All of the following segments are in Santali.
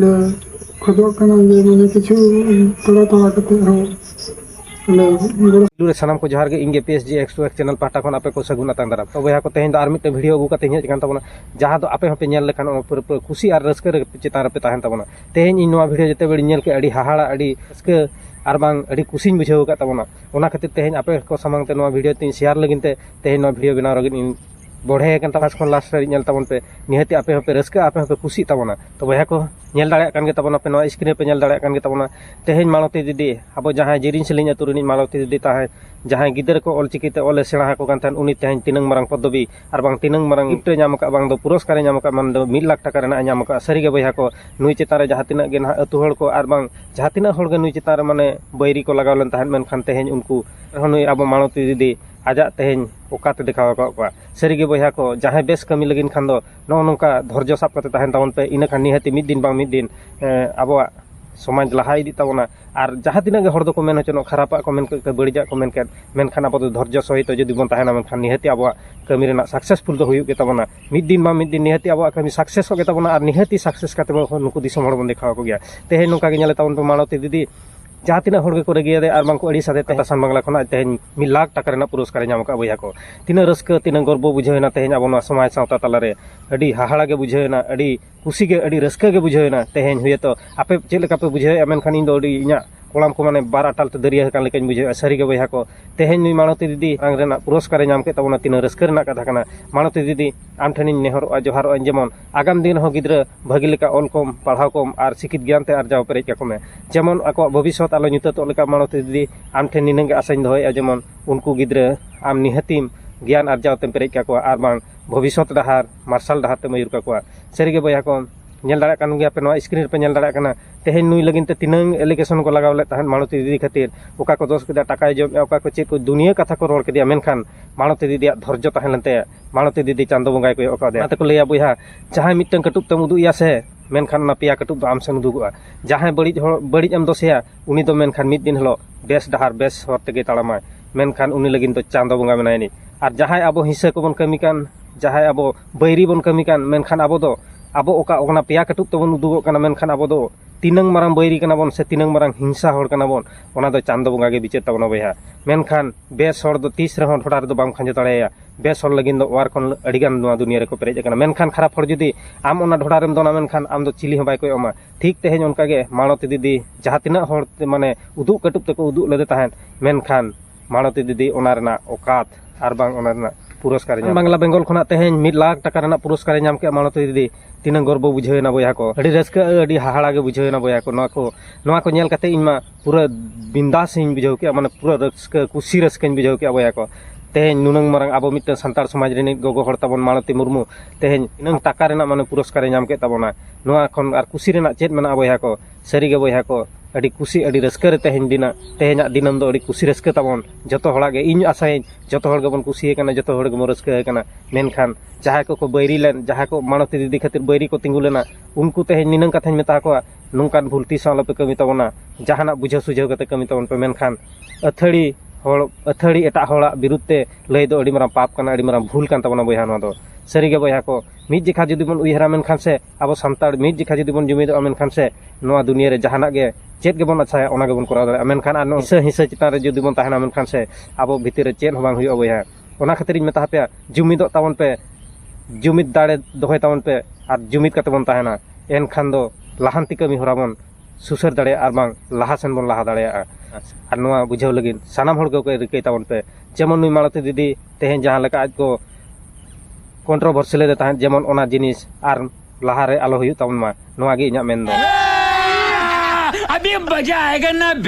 ᱞᱮ ᱠᱷᱚᱡᱚᱜ ᱠᱟᱱᱟ ᱡᱮ ᱢᱟᱱᱮ ᱠᱤᱪᱷᱩ ᱛᱷᱚᱲᱟ ᱛᱷᱚᱲᱟ ᱠᱟᱛᱮ ᱨᱮᱦᱚᱸ ᱫᱩ ᱨᱮ ᱥᱟᱱᱟᱢ ᱠᱚ ᱡᱚᱦᱟᱨ ᱜᱮ ᱤᱧ ᱜᱮ P S G X two X channel ᱯᱟᱦᱴᱟ ᱠᱷᱚᱱ ᱟᱯᱮ ᱠᱚ ᱥᱟᱹᱜᱩᱱ ᱟᱛᱟᱝ ᱫᱟᱨᱟᱢ ᱛᱚ ᱵᱚᱭᱦᱟ ᱠᱚ ᱛᱮᱦᱮᱧ ᱫᱚ ᱟᱨ ᱢᱤᱫᱴᱮᱱ ᱵᱷᱤᱰᱤᱭᱳ ᱟᱹᱜᱩ ᱠᱟᱛᱮ ᱤᱧ ᱦᱮᱡ ᱟᱠᱟᱱ ᱛᱟᱵᱚᱱᱟ ᱡᱟᱦᱟᱸ ᱫᱚ ᱟᱯᱮ ᱦᱚᱸᱯᱮ ᱧᱮᱞ ᱞᱮᱠᱷᱟᱱ ᱚᱱᱟ ᱯᱩᱨᱟᱹ ᱯᱩᱨᱟᱹ ᱠᱩᱥᱤ ᱟᱨ ᱨᱟᱹᱥᱠᱟᱹ ᱨᱮ ᱪᱮᱛᱟᱱ ᱨᱮᱯᱮ ᱛᱟᱦᱮᱱ ᱛᱟᱵᱚᱱᱟ ᱛᱮᱦᱮᱧ ᱤᱧ ᱱᱚᱣᱟ ᱵᱷᱤᱰᱤᱭᱳ ᱡᱮᱛᱮ ᱵᱮᱲᱤᱧ ᱧᱮᱞ ᱠᱮᱫ ᱟᱹᱰᱤ ᱦᱟᱦᱟᱲᱟ ᱟᱹᱰᱤ ᱨᱟᱹᱥᱠᱟᱹ ᱟᱨ ᱵᱟᱝ ᱟᱹᱰᱤ ᱠᱩᱥᱤᱧ ᱵᱩᱡᱷᱟᱹᱣ ᱟᱠᱟᱫ ᱛᱟᱵᱚᱱᱟ ᱚᱱᱟ ᱠᱷᱟᱹᱛᱤᱨ ᱛᱮᱦᱮᱧ ᱟᱯᱮ ᱠᱚ ᱥᱟᱢᱟᱝ ᱛᱮ ᱱᱚᱣᱟ ᱵᱷᱤᱰᱤᱭᱳ ᱛᱤᱧ ᱥᱮᱭᱟᱨ ᱞᱟᱹᱜᱤᱫ ᱛᱮ ᱛᱮᱦᱮᱧ ᱱᱚᱣᱟ ᱵᱷᱤᱰᱤᱭᱳ ᱵᱮᱱᱟᱣ ᱞᱟᱹᱜᱤᱫ ᱤᱧ ᱵᱚᱲᱦᱮ ᱟᱠᱟᱱ ᱛᱟᱵᱚᱱᱟ ᱯᱷᱟᱥᱴ ᱠᱷᱚᱱ ᱞᱟᱥᱴ ᱫᱷᱟᱹᱵᱤᱡ ᱧᱮᱞ ᱛᱟᱵᱚᱱ ᱯᱮ ᱱᱤᱦᱟᱹᱛ ᱜᱮ ᱟᱯᱮ ᱦᱚᱸᱯᱮ ᱨᱟᱹᱥᱠᱟᱹᱜᱼᱟ ᱟᱯᱮ ᱦᱚᱸᱯᱮ ᱠᱩᱥᱤᱜ ᱛᱟᱵᱚᱱᱟ ᱛᱚ ᱵᱚᱭᱦᱟ ᱠᱚ ᱧᱮᱞ ᱫᱟᱲᱮᱭᱟᱜ ᱠᱟᱱ ᱜᱮᱛᱟᱵᱚᱱᱟ ᱯᱮ ᱱᱚᱣᱟ ᱥᱠᱨᱤᱱ ᱨᱮᱯᱮ ᱧᱮᱞ ᱫᱟᱲᱮᱭᱟᱜ ᱠᱟᱱ ᱜᱮᱛᱟᱵᱚᱱᱟ ᱛᱮᱦᱮᱧ ᱢᱟᱞᱚᱛᱤ ᱫᱤᱫᱤ ᱟᱵᱚ ᱡᱟᱦᱟᱸᱭ ᱡᱤᱞᱤᱧ ᱥᱟᱹᱞᱤᱧ ᱟᱹᱛᱩ ᱨᱤᱱᱤᱡ ᱢᱟᱞᱚᱛᱤ ᱫᱤᱫᱤ ᱛᱟᱦᱮᱸᱫ ᱡᱟᱦᱟᱸᱭ ᱜᱤᱫᱽᱨᱟᱹ ᱠᱚ ᱚᱞ ᱪᱤᱠᱤ ᱛᱮ ᱚᱞᱮ ᱥᱮᱬᱟ ᱟᱠᱚ ᱠᱟᱱ ᱛᱟᱦᱮᱸᱫ ᱩᱱᱤ ᱛᱮᱦᱮᱧ ᱛᱤᱱᱟᱹᱝ ᱢᱟᱨᱟᱝ ᱯᱚᱫᱚᱵᱤ ᱟᱨ ᱵᱟᱝ ᱛᱤᱱᱟᱹᱝ ᱢᱟᱨᱟᱝ ᱜᱤᱯᱷᱴ ᱮ ᱧᱟᱢ ᱟᱠᱟᱫ ᱵᱟᱝ ᱫᱚ ᱯᱩᱨᱚᱥᱠᱟᱨᱮ ᱧᱟᱢ ᱟᱠᱟᱫ ᱢᱟᱱᱮ ᱫᱚ ᱢᱤᱫ ᱞᱟᱠᱷ ᱴᱟᱠᱟ ᱨᱮᱱᱟᱜ ᱮ ᱧᱟᱢ ᱟᱠᱟᱫᱼᱟ ᱥᱟᱹᱨᱤᱜᱮ ᱵᱚᱭᱦᱟ ᱠᱚ ᱱᱩᱭ ᱪᱮᱛᱟᱱ ᱨᱮ ᱡᱟᱦᱟᱸ ᱛᱤᱱᱟᱹᱜ ᱜᱮ ᱱᱟᱦᱟᱜ ᱟᱹᱛᱩ ᱦᱚᱲ ᱠᱚ ᱟᱨ ᱵᱟᱝ ᱡᱟᱦᱟᱸ ᱛᱤᱱᱟᱹᱜ ᱦᱚᱲᱜᱮ ᱱᱩᱭ ᱪᱮᱛᱟᱱ ᱨᱮ ᱢᱟᱱᱮ ᱵᱟᱹᱭᱨᱤ ᱠᱚ ᱞᱟᱜᱟᱣ ᱞᱮᱱ ᱛᱟᱦᱮᱸᱫ ᱢᱮᱱᱠᱷᱟᱱ ᱛᱮᱦᱮᱧ ᱩᱱᱠᱩ ᱟᱨᱦᱚᱸ ᱱᱩᱭ ᱟᱵᱚ ᱢᱟᱞᱚᱛᱤ ᱫᱤᱫᱤ ᱟᱡᱟᱜ ᱛᱮᱦᱮᱧ ᱚᱠᱟᱛᱮ ᱫᱮᱠᱷᱟᱣ ᱟᱠᱟᱫ ᱠᱚᱣᱟ ᱥᱟᱹᱨᱤᱜᱮ ᱵᱚᱭᱦᱟ ᱠᱚ ᱡᱟᱦᱟᱸᱭ ᱵᱮᱥ ᱠᱟᱹᱢᱤ ᱞᱟᱹᱜᱤᱫ ᱠᱷᱟᱱ ᱫᱚ ᱱᱚᱜᱼᱚ ᱱᱚᱝᱠᱟ ᱫᱷᱳᱨᱡᱚ ᱥᱟᱵ ᱠᱟᱛᱮ ᱛᱟᱦᱮᱱ ᱛᱟᱵᱚᱱ ᱯᱮ ᱤᱱᱟᱹ ᱠᱷᱟᱱ ᱱᱤᱦᱟᱹᱛ ᱢᱤᱫ ᱫᱤᱱ ᱵᱟᱝ ᱢᱤᱫ ᱫᱤᱱ ᱟᱵᱚᱣᱟᱜ ᱥᱚᱢᱟᱡᱽ ᱞᱟᱦᱟ ᱤᱫᱤᱜ ᱛᱟᱵᱚᱱᱟ ᱟᱨ ᱡᱟᱦᱟᱸ ᱛᱤᱱᱟᱹᱜ ᱜᱮ ᱦᱚᱲ ᱫᱚᱠᱚ ᱢᱮᱱ ᱦᱚᱪᱚᱱᱚᱜ ᱠᱷᱟᱨᱟᱯᱟᱜ ᱠᱚ ᱢᱮᱱ ᱠᱮᱫ ᱠᱚ ᱵᱟᱹᱲᱤᱡᱟᱜ ᱠᱚ ᱢᱮᱱ ᱠᱮᱫ ᱢᱮᱱᱠᱷᱟᱱ ᱟᱵᱚ ᱫᱚ ᱫᱷᱳᱨᱡᱚ ᱥᱚᱦᱤᱛᱮ ᱡᱩᱫᱤ ᱵᱚᱱ ᱛᱟᱦᱮᱱᱟ ᱢᱮᱱᱠᱷᱟᱱ ᱱᱤᱦᱟᱹᱛᱤ ᱟᱵᱚᱣᱟᱜ ᱠᱟᱹᱢᱤ ᱨᱮᱱᱟᱜ ᱥᱟᱠᱥᱮᱥᱯᱷᱩᱞ ᱫᱚ ᱦᱩᱭᱩᱜ ᱜᱮᱛᱟᱵᱚᱱᱟ ᱢᱤᱫ ᱫᱤᱱ ᱵᱟᱝ ᱢᱤᱫ ᱫᱤᱱ ᱱᱤᱦᱟᱹᱛᱤ ᱟᱵᱚᱣᱟᱜ ᱠᱟᱹᱢᱤ ᱥᱟᱠᱥᱮᱥᱚᱜ ᱜᱮᱛᱟᱵᱚᱱᱟ ᱟᱨ ᱱᱤᱦᱟᱹᱛᱤ ᱥᱟᱠᱥᱮᱥ ᱠᱟᱛᱮ ᱵᱚᱱ ᱱᱩᱠᱩ ᱫᱤᱥᱚᱢ ᱦᱚᱲ ᱵᱚᱱ ᱫᱮᱠᱷᱟᱣ ᱟᱠᱚ ᱜᱮᱭᱟ ᱛᱮᱦᱮᱧ ᱱᱚᱝᱠᱟ ᱜᱮ ᱧᱮᱞᱮᱫ ᱛᱟᱵᱚᱱ ᱯᱮ ᱢᱟᱞᱚᱛᱤ ᱫᱤᱫᱤ ᱡᱟᱦᱟᱸ ᱛᱤᱱᱟᱹᱜ ᱦᱚᱲ ᱜᱮᱠᱚ ᱨᱟᱹᱜᱤ ᱟᱫᱮᱭᱟ ᱟᱨ ᱵᱟᱝᱠᱚ ᱟᱹᱲᱤᱥ ᱟᱫᱮ ᱛᱟᱦᱮᱸᱫ ᱟᱥᱟᱢ ᱵᱟᱝᱞᱟ ᱠᱷᱚᱱ ᱟᱡ ᱛᱮᱦᱮᱧ ᱢᱤᱫ ᱞᱟᱠᱷ ᱴᱟᱠᱟ ᱨᱮᱱᱟᱜ ᱯᱩᱨᱚᱥᱠᱟᱨᱮ ᱧᱟᱢ ᱟᱠᱟᱫᱼᱟ ᱵᱚᱭᱦᱟ ᱠᱚ ᱛᱤᱱᱟᱹᱜ ᱨᱟᱹᱥᱠᱟᱹ ᱛᱤᱱᱟᱹᱜ ᱜᱚᱨᱵᱚ ᱵᱩᱡᱷᱟᱹᱣᱮᱱᱟ ᱛᱮᱦᱮᱧ ᱟᱵᱚ ᱱᱚᱣᱟ ᱥᱚᱢᱟᱡᱽ ᱥᱟᱶᱛᱟ ᱛᱟᱞᱟ ᱨᱮ ᱟᱹᱰᱤ ᱦᱟᱦᱟᱲᱟ ᱜᱮ ᱵᱩᱡᱷᱟᱹᱣᱮᱱᱟ ᱟᱹᱰᱤ ᱠᱩᱥᱤ ᱜᱮ ᱟᱹᱰᱤ ᱨᱟᱹᱥᱠᱟᱹ ᱜᱮ ᱵᱩᱡᱷᱟᱹᱣᱮᱱᱟ ᱛᱮᱦᱮᱧ ᱦᱚᱭᱛᱳ ᱟᱯᱮ ᱪᱮᱫ ᱞᱮᱠᱟ ᱯᱮ ᱵᱩᱡᱷᱟᱹᱣᱮᱫᱼᱟ ᱢᱮᱱᱠᱷᱟᱱ ᱤᱧ ᱫᱚ ᱟᱹᱰᱤ ᱤᱧᱟᱹᱜ ᱠᱚᱲᱟᱢ ᱠᱚ ᱢᱟᱱᱮ ᱵᱟᱨ ᱟᱴᱟᱞ ᱛᱮ ᱫᱟᱹᱨᱭᱟᱹ ᱟᱠᱟᱱ ᱞᱮᱠᱟᱧ ᱵᱩᱡᱷᱟᱹᱣᱮᱫᱼᱟ ᱥᱟᱹᱨᱤ ᱜᱮ ᱵᱚᱭᱦᱟ ᱠᱚ ᱛᱮᱦᱮᱧ ᱱᱩᱭ ᱢᱟᱞᱚᱛᱤ ᱫᱤᱫᱤ ᱨᱟᱝ ᱨᱮᱱᱟᱜ ᱯᱩᱨᱚᱥᱠᱟᱨᱮ ᱧᱟᱢ ᱠᱮᱫ ᱛᱟᱵᱚᱱᱟ ᱛᱤᱱᱟᱹᱜ ᱨᱟᱹᱥᱠᱟᱹ ᱨᱮᱱᱟᱜ ᱠᱟᱛᱷᱟ ᱠᱟᱱᱟ ᱢᱟᱞᱚᱛᱤ ᱫᱤᱫᱤ ᱟᱢ ᱴᱷᱮᱱᱤᱧ ᱱᱮᱦᱚᱨᱚᱜᱼᱟ ᱡᱚᱦᱟᱨᱚᱜᱼᱟ ᱡᱮᱢᱚᱱ ᱟᱜᱟᱢ ᱫᱤᱱ ᱨᱮᱦᱚᱸ ᱜᱤᱫᱽᱨᱟᱹ ᱵᱷᱟᱹᱜᱤ ᱞᱮᱠᱟ ᱚᱞ ᱠᱚᱢ ᱯᱟᱲᱦᱟᱣ ᱠᱚᱢ ᱟᱨ ᱥᱤᱠᱠᱷᱤᱛ ᱜᱮᱭᱟᱱ ᱛᱮ ᱟᱨᱡᱟᱣ ᱯᱮᱨᱮᱡ ᱠᱟᱠᱚ ᱢᱮ ᱡᱮᱢᱚᱱ ᱟᱠᱚᱣᱟᱜ ᱵᱷᱚᱵᱤᱥᱥᱚᱛ ᱟᱞᱚ ᱧᱩᱛᱟᱹᱛᱚᱜ ᱞᱮᱠᱟ ᱢᱟᱲᱚᱛᱤ ᱫᱤᱫᱤ ᱟᱢ ᱴᱷᱮᱱ ᱱᱤᱱᱟᱹᱜ ᱜᱮ ᱟᱥᱟᱧ ᱫᱚᱦᱚᱭᱮᱜᱼᱟ ᱡᱮᱢᱚᱱ ᱩᱱᱠᱩ ᱜᱤᱫᱽᱨᱟᱹ ᱟᱢ ᱱᱤᱦᱟᱹᱛᱤᱢ ᱜᱮᱭᱟᱱ ᱟᱨᱡᱟᱣ ᱛᱮᱢ ᱯᱮᱨᱮᱡ ᱠᱟᱠᱚᱣᱟ ᱟᱨ ᱵᱟᱝ ᱵᱷᱚᱵᱤᱥᱥᱚᱛ ᱰᱟᱦᱟᱨ ᱢᱟᱨᱥᱟᱞ ᱰᱟᱦᱟᱨ ᱛᱮᱢ ᱟᱹᱭᱩᱨ ᱠᱟᱠᱚᱣᱟ ᱥᱟᱹᱨᱤ ᱜᱮ ᱵᱚᱭᱦᱟ ᱠᱚ ᱧᱮᱞ ᱫᱟᱲᱮᱭᱟᱜ ᱠᱟᱱ ᱜᱮᱭᱟᱯᱮ ᱱᱚᱣᱟ ᱤᱥᱠᱨᱤᱱ ᱨᱮᱯᱮ ᱧᱮᱞ ᱫᱟᱲᱮᱭᱟᱜ ᱠᱟᱱᱟ ᱛᱮᱦᱮᱧ ᱱᱩᱭ ᱞᱟᱹᱜᱤᱫ ᱛᱮ ᱛᱤᱱᱟᱹᱝ ᱮᱞᱤᱜᱮᱥᱚᱱ ᱠᱚ ᱞᱟᱜᱟᱣ ᱞᱮᱫ ᱛᱟᱦᱮᱸᱫ ᱢᱟᱲᱚᱛᱤ ᱫᱤᱫᱤ ᱠᱷᱟᱹᱛᱤᱨ ᱚᱠᱟ ᱠᱚ ᱫᱳᱥ ᱠᱮᱫᱟ ᱴᱟᱠᱟᱭ ᱡᱚᱢᱮᱜᱼᱟ ᱚᱠᱟ ᱠᱚ ᱪᱮᱫ ᱠᱚ ᱫᱩᱱᱤᱭᱟᱹ ᱠᱟᱛᱷᱟ ᱠᱚ ᱨᱚᱲ ᱠᱮᱫᱮᱭᱟ ᱢᱮᱱᱠᱷᱟᱱ ᱢᱟᱲᱚᱛᱤ ᱫᱤᱫᱤᱭᱟᱜ ᱫᱷᱳᱨᱡᱚ ᱛᱟᱦᱮᱸ ᱞᱮᱱ ᱛᱟᱭᱟ ᱢᱟᱲᱚᱛᱤ ᱫᱤᱫᱤ ᱪᱟᱸᱫᱚ ᱵᱚᱸᱜᱟᱭ ᱠᱚᱭᱚᱜ ᱟᱠᱟᱫᱮᱭᱟ ᱚᱱᱟᱛᱮᱠᱚ ᱞᱟᱹᱭᱟ ᱵᱚᱭᱦᱟ ᱡᱟᱦᱟᱸᱭ ᱢᱤᱫᱴᱟᱝ ᱠᱟᱹᱴᱩᱵ ᱛᱮᱢ ᱩᱫᱩᱜ ᱮᱭᱟ ᱥᱮ ᱢᱮᱱᱠᱷᱟᱱ ᱚᱱᱟ ᱯᱮᱭᱟ ᱠᱟᱹᱴᱩᱵ ᱫᱚ ᱟᱢ ᱥᱮᱱ ᱩᱫᱩᱜᱚᱜᱼᱟ ᱡᱟᱦᱟᱸᱭ ᱵᱟᱹᱲᱤᱡ ᱦᱚᱲ ᱵᱟᱹᱲᱤᱡ ᱮᱢ ᱫᱚᱥᱮᱭᱟ ᱩᱱᱤ ᱫᱚ ᱢᱮᱱᱠᱷᱟᱱ ᱢᱤᱫ ᱫᱤᱱ ᱦᱤᱞᱳᱜ ᱵᱮᱥ ᱰᱟᱦᱟᱨ ᱵᱮᱥ ᱦᱚᱨ ᱛᱮᱜᱮ ᱛᱟᱲᱟᱢᱟᱭ ᱢᱮᱱᱠᱷᱟᱱ ᱩᱱᱤ ᱞᱟᱹᱜᱤᱫ ᱫᱚ ᱪᱟᱸᱫᱚ ᱵᱚᱸᱜᱟ ᱢᱮᱱᱟᱭᱟ ᱱᱤᱡ ᱟᱨ ᱡᱟᱦᱟᱸᱭ ᱟᱵᱚ ᱦᱤᱸᱥᱟᱹ ᱠᱚᱵᱚᱱ ᱠᱟᱹᱢᱤ ᱠᱟᱱ ᱡᱟᱦᱟᱸᱭ ᱟᱵᱚ ᱵᱟᱹᱭᱨᱤ ᱵᱚᱱ ᱠᱟᱹᱢᱤ ᱠᱟᱱ ᱢᱮᱱᱠᱷᱟᱱ ᱟᱵᱚ ᱫᱚ ᱟᱵᱚ ᱚᱠᱟ ᱚᱱᱟ ᱯᱮᱭᱟ ᱠᱟᱹᱴᱩᱵ ᱛᱮᱵᱚᱱ ᱩᱫᱩᱜᱚᱜ ᱠᱟᱱᱟ ᱢᱮᱱᱠᱷᱟᱱ ᱟᱵᱚ ᱫᱚ ᱛᱤᱱᱟᱹᱝ ᱢᱟᱨᱟᱝ ᱵᱟᱹᱭᱨᱤ ᱠᱟᱱᱟ ᱵᱚᱱ ᱥᱮ ᱛᱤᱱᱟᱹᱝ ᱢᱟᱨᱟᱝ ᱦᱤᱝᱥᱟ ᱦᱚᱲ ᱠᱟᱱᱟ ᱵᱚᱱ ᱚᱱᱟ ᱫᱚ ᱪᱟᱸᱫᱚ ᱵᱚᱸᱜᱟ ᱜᱮ ᱵᱤᱪᱟᱹᱨ ᱛᱟᱵᱚᱱᱟ ᱵᱚᱭᱦᱟ ᱢᱮᱱᱠᱷᱟᱱ ᱵᱮᱥ ᱦᱚᱲ ᱫᱚ ᱛᱤᱥ ᱨᱮᱦᱚᱸ ᱰᱷᱚᱰᱟ ᱨᱮᱫᱚ ᱵᱟᱢ ᱠᱷᱟᱸᱡᱚ ᱫᱟᱲᱮᱭᱟᱭᱟ ᱵᱮᱥ ᱦᱚᱲ ᱞᱟᱹᱜᱤᱫ ᱫᱚ ᱚᱣᱟᱨ ᱠᱷᱚᱱ ᱟᱹᱰᱤ ᱜᱟᱱ ᱱᱚᱣᱟ ᱫᱩᱱᱤᱭᱟᱹ ᱨᱮᱠᱚ ᱯᱮᱨᱮᱡ ᱟᱠᱟᱱᱟ ᱢᱮᱱᱠᱷᱟᱱ ᱠᱷᱟᱨᱟᱯ ᱦᱚᱲ ᱡᱩᱫᱤ ᱟᱢ ᱚᱱᱟ ᱰᱷᱚᱰᱟ ᱨᱮᱢ ᱫᱚᱱᱟ ᱢᱮᱱᱠᱷᱟᱱ ᱟᱢ ᱫᱚ ᱪᱤᱞᱤ ᱦᱚᱸ ᱵᱟᱭ ᱠᱚᱭᱚᱜ ᱟᱢᱟ ᱴᱷᱤᱠ ᱛᱮᱦᱮᱧ ᱚᱱᱠᱟ ᱜᱮ ᱢᱟᱲᱚᱛᱤ ᱫᱤᱫᱤ ᱡᱟᱦᱟᱸ ᱛᱤᱱᱟᱹᱜ ᱦᱚᱲ ᱢᱟᱱᱮ ᱩᱫᱩᱜ ᱠᱟᱹᱴᱩᱵ ᱛᱮᱠᱚ ᱩᱫᱩᱜ ᱞᱮᱫᱮ ᱛᱟᱦᱮᱸᱫ ᱢᱮᱱᱠᱷᱟᱱ ᱢᱟᱲᱚᱛᱤ ᱫᱤᱫᱤ ᱚᱱᱟ ᱨᱮᱱᱟᱜ ᱚᱠᱟᱛ ᱟᱨ ᱵᱟᱝ ᱚᱱᱟ ᱨᱮᱱᱟᱜ ᱯᱩᱨᱚᱥᱠᱟᱨ ᱧᱟᱢ ᱵᱟᱝᱞᱟ ᱵᱮᱝᱜᱚᱞ ᱠᱷᱚᱱᱟᱜ ᱛᱮᱦᱮᱧ ᱢᱤᱫ ᱞᱟᱠᱷ ᱴᱟᱠᱟ ᱨᱮᱱᱟᱜ ᱯᱩᱨᱚᱥᱠᱟᱨᱮ ᱧᱟᱢ ᱠᱮᱫ ᱢᱟᱲᱚᱛᱤ ᱫᱤᱫᱤ ᱛᱤᱱᱟᱹᱜ ᱜᱚᱨᱵᱚ ᱵᱩᱡᱷᱟᱹᱣᱮᱱᱟ ᱵᱚᱭᱦᱟ ᱠᱚ ᱟᱹᱰᱤ ᱨᱟᱹᱥᱠᱟᱹ ᱟᱹᱰᱤ ᱦᱟᱦᱟᱲᱟ ᱜᱮ ᱵᱩᱡᱷᱟᱹᱣᱮᱱᱟ ᱵᱚᱭᱦᱟ ᱠᱚ ᱱᱚᱣᱟ ᱠᱚ ᱱᱚᱣᱟ ᱠᱚ ᱧᱮᱞ ᱠᱟᱛᱮᱫ ᱤᱧ ᱢᱟ ᱯᱩᱨᱟᱹ ᱵᱤᱱᱫᱟᱥ ᱤᱧ ᱵᱩᱡᱷᱟᱹᱣ ᱠᱮᱜᱼᱟ ᱢᱟᱱᱮ ᱯᱩᱨᱟᱹ ᱨᱟᱹᱥᱠᱟᱹ ᱠᱩᱥᱤ ᱨᱟᱹᱥᱠᱟᱹᱧ ᱵᱩᱡᱷᱟᱹᱣ ᱠᱮᱜᱼᱟ ᱵᱚᱭᱦᱟ ᱠᱚ ᱛᱮᱦᱮᱧ ᱱᱩᱱᱟᱹᱝ ᱢᱟᱨᱟᱝ ᱟᱵᱚ ᱢᱤᱫᱴᱟᱹᱝ ᱥᱟᱱᱛᱟᱲ ᱥᱚᱢᱟᱡᱽ ᱨᱤᱱᱤᱡ ᱜᱚᱜᱚ ᱦᱚᱲ ᱛᱟᱵᱚᱱ ᱢᱟᱞᱚᱛᱤ ᱢᱩᱨᱢᱩ ᱛᱮᱦᱮᱧ ᱱᱩᱱᱟᱹᱝ ᱴᱟᱠᱟ ᱨᱮᱱᱟᱜ ᱢᱟᱱᱮ ᱯᱩᱨᱚᱥᱠᱟᱨᱮ ᱧᱟᱢ ᱠᱮᱫ ᱛᱟᱵᱚᱱᱟ ᱱᱚᱣᱟ ᱠᱷᱚᱱ ᱟᱨ ᱠᱩᱥᱤ ᱨᱮᱱᱟᱜ ᱪᱮᱫ ᱢᱮᱱᱟᱜᱼᱟ ᱵᱚᱭᱦᱟ ᱠᱚ ᱥᱟᱹᱨᱤ ᱜᱮ ᱵᱚᱭᱦᱟ ᱠᱚ ᱟᱹᱰᱤ ᱠᱩᱥᱤ ᱟᱹᱰᱤ ᱨᱟᱹᱥᱠᱟᱹ ᱨᱮ ᱛᱮᱦᱮᱧ ᱫᱤᱱᱟᱜ ᱛᱮᱦᱮᱧᱟᱜ ᱫᱤᱱᱟᱹᱢ ᱫᱚ ᱟᱹᱰᱤ ᱠᱩᱥᱤ ᱨᱟᱹᱥᱠᱟᱹ ᱛᱟᱵᱚᱱ ᱡᱚᱛᱚ ᱦᱚᱲᱟᱜ ᱜᱮ ᱤᱧ ᱟᱥᱟᱭᱟᱹᱧ ᱡᱚᱛᱚ ᱦᱚᱲ ᱜᱮᱵᱚᱱ ᱠᱩᱥᱤ ᱟᱠᱟᱱᱟ ᱡᱚᱛᱚ ᱦᱚᱲ ᱜᱮᱵᱚᱱ ᱨᱟᱹᱥᱠᱟᱹ ᱟᱠᱟᱱᱟ ᱢᱮᱱᱠᱷᱟᱱ ᱡᱟᱦᱟᱸᱭ ᱠᱚᱠᱚ ᱵᱟᱹᱭᱨᱤ ᱞᱮᱱ ᱡᱟᱦᱟᱸᱭ ᱠᱚ ᱢᱟᱞᱚᱛᱤ ᱫᱤᱫᱤ ᱠᱷᱟᱹᱛᱤᱨ ᱵᱟᱹᱭᱨᱤ ᱠᱚ ᱛᱤᱸᱜᱩ ᱞᱮᱱᱟ ᱩᱱᱠᱩ ᱛᱮᱦᱮᱧ ᱱᱤᱱᱟᱹᱝ ᱠᱟᱛᱷᱟᱧ ᱢᱮᱛᱟ ᱠᱚᱣᱟ ᱱᱚᱝᱠᱟᱱ ᱵᱷᱩᱞ ᱛᱤᱥ ᱦᱚᱸ ᱟᱞᱚᱯᱮ ᱠᱟᱹᱢᱤ ᱛᱟᱵᱚᱱᱟ ᱡᱟᱦᱟᱱᱟᱜ ᱵᱩᱡᱷᱟᱹᱣ ᱥᱩᱡᱷᱟᱹᱣ ᱠᱟᱛᱮᱫ ᱠᱟᱹᱢᱤ ᱛᱟᱵᱚᱱ ᱯᱮ ᱢᱮᱱᱠᱷᱟᱱ ᱟᱹᱛᱷᱟᱹᱲᱤ ᱦᱚᱲ ᱟᱹᱛᱷᱟᱹᱲᱤ ᱮᱴᱟᱜ ᱦᱚᱲᱟᱜ ᱵᱤᱨᱩᱫᱷ ᱛᱮ ᱞᱟᱹᱭ ᱫᱚ ᱟᱹᱰᱤ ᱢᱟᱨᱟᱝ ᱯᱟᱯ ᱠᱟᱱᱟ ᱟᱹᱰᱤ ᱢᱟᱨᱟᱝ ᱵᱷᱩᱞ ᱠᱟᱱ ᱛᱟᱵᱚᱱᱟ ᱵᱚᱭᱦᱟ ᱱᱚᱣᱟ ᱫᱚ ᱥᱟᱹᱨᱤᱜᱮ ᱵᱚᱭᱦᱟ ᱠᱚ ᱢᱤᱫ ᱡᱚᱠᱷᱟ ᱡᱩᱫᱤ ᱵᱚᱱ ᱩᱭᱦᱟᱹᱨᱟ ᱢᱮᱱᱠᱷᱟᱱ ᱥᱮ ᱟᱵᱚ ᱥᱟᱱᱛᱟᱲ ᱢᱤᱫ ᱡᱚᱠᱷᱟ ᱡᱩᱫᱤ ᱵᱚᱱ ᱡᱩᱢᱤᱫᱚᱜᱼᱟ ᱢᱮᱱᱠᱷᱟᱱ ᱥᱮ ᱱᱚᱣᱟ ᱫᱩᱱᱤᱭᱟᱹ ᱨᱮ ᱡᱟᱦᱟᱱᱟᱜ ᱜᱮ ᱪᱮᱫ ᱜᱮᱵᱚᱱ ᱟᱥᱟᱭᱟ ᱚᱱᱟ ᱜᱮᱵᱚᱱ ᱠᱚᱨᱟᱣ ᱫᱟᱲᱮᱭᱟᱜᱼᱟ ᱢᱮᱱᱠᱷᱟᱱ ᱟᱨ ᱱᱚᱣᱟ ᱦᱤᱥᱟᱹ ᱦᱤᱥᱟᱹ ᱪᱮᱛᱟᱱ ᱨᱮ ᱡᱩᱫᱤ ᱵᱚᱱ ᱛᱟᱦᱮᱱᱟ ᱢᱮᱱᱠᱷᱟᱱ ᱥᱮ ᱟᱵᱚ ᱵᱷᱤᱛᱤᱨ ᱨᱮ ᱪᱮᱫ ᱦᱚᱸ ᱵᱟᱝ ᱦᱩᱭᱩᱜᱼᱟ ᱵᱚᱭᱦᱟ ᱚᱱᱟ ᱠᱷᱟᱹᱛᱤᱨᱤᱧ ᱢᱮᱛᱟ ᱯᱮᱭᱟ ᱡᱩᱢᱤᱫᱚᱜ ᱛᱟᱵᱚᱱ ᱯᱮ ᱡᱩᱢᱤᱫ ᱫᱟᱲᱮ ᱫᱚᱦᱚᱭ ᱛᱟᱵᱚᱱ ᱯᱮ ᱟᱨ ᱡᱩᱢᱤᱫ ᱠᱟᱛᱮ ᱵᱚᱱ ᱛᱟᱦᱮᱱᱟ ᱮᱱᱠᱷᱟᱱ ᱫᱚ ᱞᱟᱦᱟᱱᱛᱤ ᱠᱟᱹᱢᱤ ᱦᱚᱨᱟ ᱵᱚᱱ ᱥᱩᱥᱟᱹᱨ ᱫᱟᱲᱮᱭᱟᱜᱼᱟ ᱟᱨ ᱵᱟᱝ ᱞᱟᱦᱟ ᱥᱮᱱ ᱵᱚᱱ ᱞᱟᱦᱟ ᱫᱟᱲᱮᱭᱟᱜᱼᱟ ᱟᱨ ᱱᱚᱣᱟ ᱵᱩᱡᱷᱟᱹᱣ ᱞᱟᱹᱜᱤᱫ ᱥᱟᱱᱟᱢ ᱦᱚᱲ ᱜᱮᱠᱚ ᱨᱤᱠᱟᱹᱭ ᱛᱟᱵᱚᱱ ᱯᱮ ᱡᱮᱢᱚᱱ ᱱᱩᱭ ᱢᱟᱞᱚᱛᱤ ᱫᱤᱫᱤ ᱛᱮᱦᱮᱧ ᱡᱟᱦᱟᱸ ᱞᱮᱠᱟ ᱟᱡ ᱠᱚ ᱠᱚᱱᱴᱨᱚᱵᱷᱚᱨᱥᱤ ᱞᱮᱫᱮ ᱛᱟᱦᱮᱸᱫ ᱡᱮᱢᱚᱱ ᱚᱱᱟ ᱡᱤᱱᱤᱥ ᱟᱨ ᱞᱟᱦᱟᱨᱮ ᱟᱞᱚ ᱦᱩᱭᱩᱜ ᱛᱟᱵᱚᱱ ᱢᱟ ᱱᱚᱣᱟ ᱜᱮ ᱤᱧᱟᱹᱜ ᱢᱮᱱ ᱫᱚ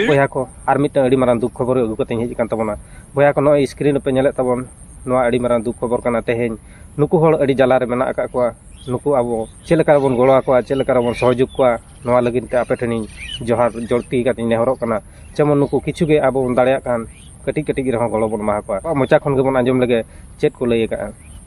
ᱵᱚᱭᱦᱟ ᱠᱚ ᱟᱨ ᱢᱤᱫᱴᱟᱝ ᱟᱹᱰᱤ ᱢᱟᱨᱟᱝ ᱫᱩᱠ ᱠᱷᱚᱵᱚᱨ ᱟᱹᱜᱩ ᱠᱟᱛᱮᱧ ᱦᱮᱡ ᱟᱠᱟᱱ ᱛᱟᱵᱚᱱᱟ ᱵᱚᱭᱦᱟ ᱠᱚ ᱱᱚᱜᱼᱚᱭ ᱥᱠᱨᱤᱱ ᱨᱮᱯᱮ ᱧᱮᱞᱮᱫ ᱛᱟᱵᱚᱱ ᱱᱚᱣᱟ ᱟᱹᱰᱤ ᱢᱟᱨᱟᱝ ᱫᱩᱠ ᱠᱷᱚᱵᱚᱨ ᱠᱟᱱᱟ ᱛᱮᱦᱮᱧ ᱱᱩᱠᱩ ᱦᱚᱲ ᱟᱹᱰᱤ ᱡᱟᱞᱟᱨᱮ ᱢᱮᱱᱟᱜ ᱟᱠᱟᱫ ᱠᱚᱣᱟ ᱱᱩᱠᱩ ᱟᱵᱚ ᱪᱮᱫ ᱞᱮᱠᱟ ᱨᱮᱵᱚᱱ ᱜᱚᱲᱚ ᱟᱠᱚᱣᱟ ᱪᱮᱫ ᱞᱮᱠᱟ ᱨᱮᱵᱚᱱ ᱥᱚᱦᱚᱡᱳᱜᱽ ᱠᱚᱣᱟ ᱱᱚᱣᱟ ᱞᱟᱹᱜᱤᱫ ᱛᱮ ᱟᱯᱮ ᱴᱷᱮᱱᱤᱧ ᱡᱚᱦᱟᱨ ᱡᱚᱲᱛᱤ ᱠᱟᱛᱮᱧ ᱱᱮᱦᱚᱨᱚᱜ ᱠᱟᱱᱟ ᱡᱮᱢᱚᱱ ᱱᱩᱠᱩ ᱠᱤᱪᱷᱩ ᱜᱮ ᱟᱵᱚ ᱵᱚᱱ ᱫᱟᱲᱮᱭᱟᱜ ᱠᱟᱱ ᱠᱟᱹᱴᱤᱡ ᱠᱟᱹᱴᱤᱡ ᱨᱮᱦᱚᱸ ᱜᱚᱲᱚ ᱵᱚᱱ ᱮᱢᱟ ᱠᱚᱣᱟ ᱢᱚᱪᱟ ᱠᱷᱚᱱ ᱜᱮᱵᱚᱱ ᱟᱸᱡᱚᱢ ᱞᱮᱜᱮ ᱪᱮᱫ ᱠᱚ ᱞᱟᱹᱭ ᱟᱠᱟᱫᱼᱟ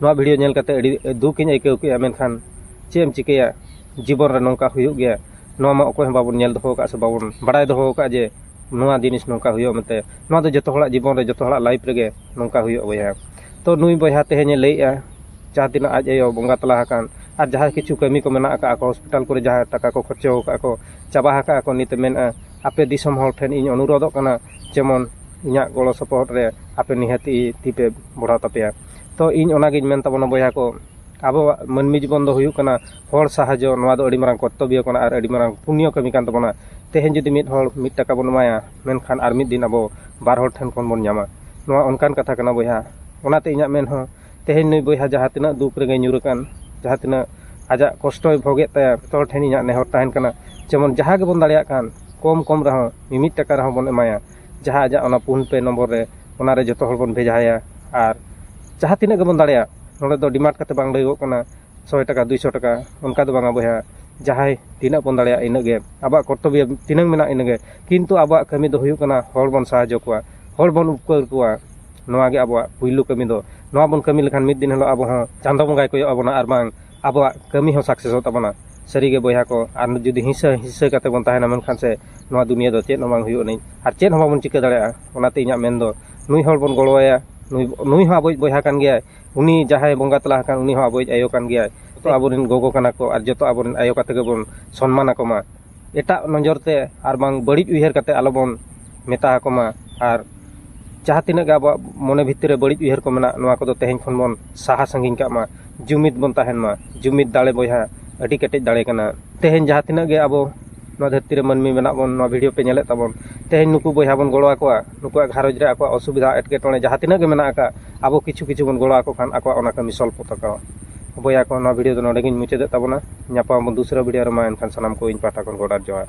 ᱱᱚᱣᱟ ᱵᱷᱤᱰᱭᱳ ᱧᱮᱞ ᱠᱟᱛᱮᱫ ᱟᱹᱰᱤ ᱫᱩᱠ ᱤᱧ ᱟᱹᱭᱠᱟᱹᱣ ᱠᱮᱫᱼᱟ ᱢᱮᱱᱠᱷᱟᱱ ᱪᱮᱫ ᱮᱢ ᱪᱤᱠᱟᱹᱭᱟ ᱡᱤᱵᱚᱱ ᱨᱮ ᱱᱚᱝᱠᱟ ᱦᱩᱭᱩᱜ ᱜᱮᱭᱟ ᱱᱚᱣᱟ ᱢᱟ ᱚᱠᱚᱭ ᱦᱚᱸ ᱵᱟᱵᱚᱱ ᱧᱮᱞ ᱫᱚᱦᱚ ᱟᱠᱟᱫᱼᱟ ᱥᱮ ᱵᱟᱵᱚᱱ ᱵᱟᱲᱟᱭ ᱫᱚᱦᱚ ᱟᱠᱟᱫᱼᱟ ᱡᱮ ᱱᱚᱣᱟ ᱡᱤᱱᱤᱥ ᱱᱚᱝᱠᱟ ᱦᱩᱭᱩᱜᱼᱟ ᱢᱮᱱᱛᱮ ᱱᱚᱣᱟ ᱫᱚ ᱡᱚᱛᱚ ᱦᱚᱲᱟᱜ ᱡᱤᱵᱚᱱ ᱨᱮ ᱡᱚᱛᱚ ᱦᱚᱲᱟᱜ ᱞᱟᱭᱤᱯᱷ ᱨᱮᱜᱮ ᱱᱚᱝᱠᱟ ᱦᱩᱭᱩᱜᱼᱟ ᱵᱚᱭᱦᱟ ᱛᱳ ᱱᱩᱭ ᱵᱚᱭᱦᱟ ᱛᱮᱦᱮᱧᱮ ᱞᱟᱹᱭᱮᱫᱼᱟ ᱡᱟᱦᱟᱸ ᱛᱤᱱᱟᱹᱜ ᱟᱡ ᱟᱭᱳ ᱵᱚᱸᱜᱟ ᱛᱟᱞᱟ ᱟᱠᱟᱱ ᱟᱨ ᱡᱟᱦᱟᱸ ᱠᱤᱪᱷᱩ ᱠᱟᱹᱢᱤ ᱠᱚ ᱢᱮᱱᱟᱜ ᱟᱠᱟᱫᱼᱟ ᱠᱚ ᱦᱚᱥᱯᱤᱴᱟᱞ ᱠᱚᱨᱮ ᱡᱟᱦᱟᱸ ᱴᱟᱠᱟ ᱠᱚ ᱠᱷᱚᱨᱪᱟ ᱟᱠᱟᱫᱼᱟ ᱠᱚ ᱪᱟᱵᱟ ᱟᱠᱟᱫᱼᱟ ᱠᱚ ᱱᱤᱛᱮ ᱢᱮᱱᱮᱫᱼᱟ ᱟᱯᱮ ᱫᱤᱥᱚᱢ ᱦᱚᱲ ᱴᱷᱮᱱ ᱤᱧ ᱚᱱᱩᱨᱳᱫᱷᱚᱜ ᱠᱟᱱᱟ ᱡᱮᱢᱚᱱ ᱤᱧᱟᱹᱜ ᱜᱚᱲᱚ ᱥᱚᱯᱚᱦᱚᱫ ᱨᱮ ᱟᱯᱮ ᱱᱤᱦᱟᱹᱛ ᱛᱤ ᱯᱮ ᱵᱟᱲᱦᱟᱣ ᱛᱟᱯᱮᱭᱟ ᱛᱚ ᱤᱧ ᱚᱱᱟᱜᱤᱧ ᱢᱮᱱ ᱛᱟᱵᱚᱱᱟ ᱵᱚᱭᱦᱟ ᱠᱚ ᱟᱵᱚᱣᱟᱜ ᱢᱟᱹᱱᱢᱤ ᱡᱤᱵᱚᱱ ᱫᱚ ᱦᱩᱭᱩᱜ ᱠᱟᱱᱟ ᱦᱚᱲ ᱥᱟᱦᱟᱡᱽᱡᱚ ᱱᱚᱣᱟ ᱫᱚ ᱟᱹᱰᱤ ᱢᱟᱨᱟᱝ ᱠᱚᱨᱛᱚᱵᱵᱚ ᱠᱟᱱᱟ ᱟᱨ ᱟᱹᱰᱤ ᱢᱟᱨᱟᱝ ᱯᱩᱱᱱᱚ ᱠᱟᱹᱢᱤ ᱠᱟᱱ ᱛᱟᱵᱚᱱᱟ ᱛᱮᱦᱮᱧ ᱡᱩᱫᱤ ᱢᱤᱫ ᱦᱚᱲ ᱢᱤᱫ ᱴᱟᱠᱟ ᱵᱚᱱ ᱮᱢᱟᱭᱟ ᱢᱮᱱᱠᱷᱟᱱ ᱟᱨ ᱢᱤᱫ ᱫᱤᱱ ᱟᱵᱚ ᱵᱟᱨ ᱦᱚᱲ ᱴᱷᱮᱱ ᱠᱷᱚᱱ ᱵᱚᱱ ᱧᱟᱢᱟ ᱱᱚᱣᱟ ᱚᱱᱠᱟᱱ ᱠᱟᱛᱷᱟ ᱠᱟᱱᱟ ᱵᱚᱭᱦᱟ ᱚᱱᱟᱛᱮ ᱤᱧᱟᱹᱜ ᱢᱮᱱ ᱦᱚᱸ ᱛᱮᱦᱮᱧ ᱱᱩᱭ ᱵᱚᱭᱦᱟ ᱡᱟᱦᱟᱸ ᱛᱤᱱᱟᱹᱜ ᱫᱩᱠ ᱨᱮᱜᱮ ᱧᱩᱨ ᱟᱠᱟᱱ ᱡᱟᱦᱟᱸ ᱛᱤᱱᱟᱹᱜ ᱟᱡᱟᱜ ᱠᱚᱥᱴᱚᱭ ᱵᱷᱳᱜᱮᱫ ᱛᱟᱭᱟ ᱡᱚᱛᱚ ᱦᱚᱲ ᱴᱷᱮᱱ ᱤᱧᱟᱹᱜ ᱱᱮᱦᱚᱨ ᱛᱟᱦᱮᱱ ᱠᱟᱱᱟ ᱡᱮᱢᱚᱱ ᱡᱟᱦᱟᱸ ᱜᱮᱵᱚᱱ ᱫᱟᱲᱮᱭᱟᱜ ᱠᱟᱱ ᱠᱚᱢ ᱠᱚᱢ ᱨᱮᱦᱚᱸ ᱢᱤᱢᱤᱫ ᱴᱟᱠᱟ ᱨᱮᱦᱚᱸ ᱵᱚᱱ ᱮᱢᱟᱭᱟ ᱡᱟᱦᱟᱸ ᱟᱡᱟᱜ ᱚᱱᱟ ᱯᱷᱳᱱ ᱯᱮ ᱱᱚᱢᱵᱚᱨ ᱨᱮ ᱚᱱᱟᱨᱮ ᱡᱚᱛᱚ ᱦᱚᱲ ᱵᱚᱱ ᱵᱷᱮᱡᱟ ᱟᱭᱟ ᱟᱨ ᱡᱟᱦᱟᱸ ᱛᱤᱱᱟᱹᱜ ᱜᱮᱵᱚᱱ ᱫᱟᱲᱮᱭᱟᱜ ᱱᱚᱰᱮ ᱫᱚ ᱰᱤᱢᱟᱱᱰ ᱠᱟᱛᱮ ᱵᱟᱝ ᱞᱟᱹᱭᱟᱹᱜᱚᱜ ᱠᱟᱱᱟ ᱥᱚᱭ ᱴᱟᱠᱟ ᱫᱩᱭ ᱥᱚ ᱴᱟᱠᱟ ᱚᱱᱠᱟ ᱫᱚ ᱵᱟᱝᱟ ᱵᱚᱭᱦᱟ ᱡᱟᱦᱟᱸᱭ ᱛᱤᱱᱟᱹᱜ ᱵᱚᱱ ᱫᱟᱲᱮᱭᱟᱜ ᱤᱱᱟᱹᱜ ᱜᱮ ᱟᱵᱚᱣᱟᱜ ᱠᱚᱨᱛᱚᱵᱵᱚ ᱛᱤᱱᱟᱹᱝ ᱢᱮᱱᱟᱜ ᱤᱱᱟᱹᱜ ᱜᱮ ᱠᱤᱱᱛᱩ ᱟᱵᱚᱣᱟᱜ ᱠᱟᱹᱢᱤ ᱫᱚ ᱦᱩᱭᱩᱜ ᱠᱟᱱᱟ ᱦᱚᱲ ᱵᱚᱱ ᱥᱟᱦᱟᱡᱽᱡᱚ ᱠᱚᱣᱟ ᱦᱚᱲ ᱵᱚᱱ ᱩᱯᱠᱟᱹᱨ ᱠᱚᱣᱟ ᱱᱚᱣᱟᱜᱮ ᱟᱵᱚᱣᱟᱜ ᱯᱳᱭᱞᱳ ᱠᱟᱹᱢᱤ ᱫᱚ ᱱᱚᱣᱟ ᱵᱚᱱ ᱠᱟᱹᱢᱤ ᱞᱮᱠᱷᱟᱱ ᱢᱤᱫ ᱫᱤᱱ ᱦᱤᱞᱳᱜ ᱟᱵᱚ ᱦᱚᱸ ᱪᱟᱸᱫᱚ ᱵᱚᱸᱜᱟᱭ ᱠᱚᱭᱚᱜ ᱟᱵᱚᱱᱟ ᱟᱨ ᱵᱟᱝ ᱟᱵᱚᱣᱟᱜ ᱠᱟᱹᱢᱤ ᱦᱚᱸ ᱥᱟᱠᱥᱮᱥᱚᱜ ᱛᱟᱵᱚᱱᱟ ᱥᱟᱹᱨᱤ ᱜᱮ ᱵᱚᱭᱦᱟ ᱠᱚ ᱟᱨ ᱡᱩᱫᱤ ᱦᱤᱥᱟᱹ ᱦᱤᱥᱟᱹ ᱠᱟᱛᱮ ᱵᱚᱱ ᱛᱟᱦᱮᱱᱟ ᱢᱮᱱᱠᱷᱟᱱ ᱥᱮ ᱱᱚᱣᱟ ᱫᱩᱱᱤᱭᱟᱹ ᱫᱚ ᱪᱮᱫ ᱦᱚᱸ ᱵᱟᱝ ᱦᱩᱭᱩᱜ ᱟᱹᱱᱤᱡ ᱟᱨ ᱪᱮᱫ ᱦᱚᱸ ᱵᱟᱵᱚᱱ ᱪᱤᱠᱟᱹ ᱫᱟᱲᱮᱭᱟᱜᱼᱟ ᱚᱱᱟᱛᱮ ᱤᱧᱟᱹᱜ ᱢᱮᱱ ᱫᱚ ᱱᱩᱭ ᱦᱚᱲ ᱵᱚᱱ ᱜᱚᱲᱚ ᱟᱭᱟ ᱱᱩᱭ ᱱᱩᱭ ᱦᱚᱸ ᱟᱵᱚᱭᱤᱡ ᱵᱚᱭᱦᱟ ᱠᱟᱱ ᱜᱮᱭᱟᱭ ᱩᱱᱤ ᱡᱟᱦᱟᱸᱭ ᱵᱚᱸᱜᱟ ᱛᱟᱞᱟ ᱟᱠᱟᱱ ᱩᱱᱤ ᱦᱚᱸ ᱟᱵᱚᱭᱤᱡ ᱟᱭᱳ ᱠᱟᱱ ᱜᱮᱭᱟᱭ ᱡᱚᱛᱚ ᱟᱵᱚ ᱨᱮᱱ ᱜᱚᱜᱚ ᱠᱟᱱᱟ ᱠᱚ ᱟᱨ ᱡᱚᱛᱚ ᱟᱵᱚ ᱨᱮᱱ ᱟᱭᱳ ᱠᱟᱛᱮ ᱜᱮᱵᱚᱱ ᱥᱚᱱᱢᱟᱱ ᱟᱠᱚᱢᱟ ᱮᱴᱟᱜ ᱱᱚᱡᱚᱨ ᱛᱮ ᱟᱨ ᱵᱟᱝ ᱵᱟᱹᱲᱤᱡ ᱩᱭᱦᱟᱹᱨ ᱠᱟᱛᱮ ᱟᱞᱚ ᱵᱚᱱ ᱢᱮᱛᱟ ᱟᱠᱚ ᱢᱟ ᱟᱨ ᱡᱟᱦᱟᱸ ᱛᱤᱱᱟᱹᱜ ᱜᱮ ᱟᱵᱚᱣᱟᱜ ᱢᱚᱱᱮ ᱵᱷᱤᱛᱤᱨ ᱨᱮ ᱵᱟᱹᱲᱤᱡ ᱩᱭᱦᱟᱹᱨ ᱠᱚ ᱢᱮᱱᱟᱜ ᱱᱚᱣᱟ ᱠᱚᱫᱚ ᱛᱮᱦᱮᱧ ᱠᱷᱚᱱ ᱵᱚᱱ ᱥᱟᱦᱟ ᱥᱟᱺᱜᱤᱧ ᱠᱟᱜ ᱢᱟ ᱡᱩᱢᱤᱫ ᱵᱚᱱ ᱛᱟᱦᱮᱱ ᱢᱟ ᱡᱩᱢᱤᱫ ᱫᱟᱲᱮ ᱵᱚᱭᱦᱟ ᱟᱹᱰᱤ ᱠᱮᱴᱮᱡ ᱫᱟᱲᱮ ᱠᱟᱱᱟ ᱛᱮᱦᱮᱧ ᱡᱟᱦᱟᱸ ᱛᱤᱱᱟᱹᱜ ᱜᱮ ᱟᱵᱚ ᱱᱚᱣᱟ ᱫᱷᱟᱹᱨᱛᱤ ᱨᱮ ᱢᱟᱹᱱᱢᱤ ᱢᱮᱱᱟᱜ ᱵᱚᱱ ᱱᱚᱣᱟ ᱵᱷᱤᱰᱭᱳ ᱯᱮ ᱧᱮᱞᱮᱫ ᱛᱟᱵᱚᱱ ᱛᱮᱦᱮᱧ ᱱᱩᱠᱩ ᱵᱚᱭᱦᱟ ᱵᱚᱱ ᱜᱚᱲᱚ ᱟᱠᱚᱣᱟ ᱱᱩᱠᱩᱣᱟᱜ ᱜᱷᱟᱨᱚᱸᱡᱽ ᱨᱮ ᱟᱠᱚᱣᱟᱜ ᱚᱥᱩᱵᱤᱫᱷᱟ ᱮᱴᱠᱮᱴᱚᱬᱮ ᱡᱟᱦᱟᱸ ᱛᱤᱱᱟᱹᱜ ᱜᱮ ᱢᱮᱱᱟᱜ ᱟᱠᱟᱫ ᱟᱵᱚ ᱠᱤᱪᱷᱩ ᱠᱤᱪᱷᱩ ᱵᱚᱱ ᱜᱚᱲᱚ ᱟᱠᱚ ᱠᱷᱟᱱ ᱟᱠᱚᱣᱟᱜ ᱚᱱᱟ ᱠᱟᱹᱢᱤ ᱥᱚᱞᱵᱷᱚᱜ ᱛᱟᱠᱚᱣᱟ ᱵᱚᱭᱦᱟ ᱠᱚ ᱱᱚᱣᱟ ᱵᱷᱤᱰᱭᱳ ᱫᱚ ᱱᱚᱰᱮ ᱜᱤᱧ ᱢᱩᱪᱟᱹᱫᱮᱜ ᱛᱟᱵᱚᱱᱟ ᱧᱟᱯᱟᱢ ᱟᱵᱚᱱ ᱫᱚᱥᱨᱟ ᱵᱷᱤᱰᱭᱳ ᱨᱮ ᱢᱟ ᱮᱱᱠᱷᱟᱱ ᱥᱟᱱᱟᱢ ᱠᱚ ᱤᱧ ᱯᱟᱦᱴᱟ ᱠᱷᱚᱱ ᱜᱚᱰ ᱟᱨ ᱡᱚᱦᱟᱨ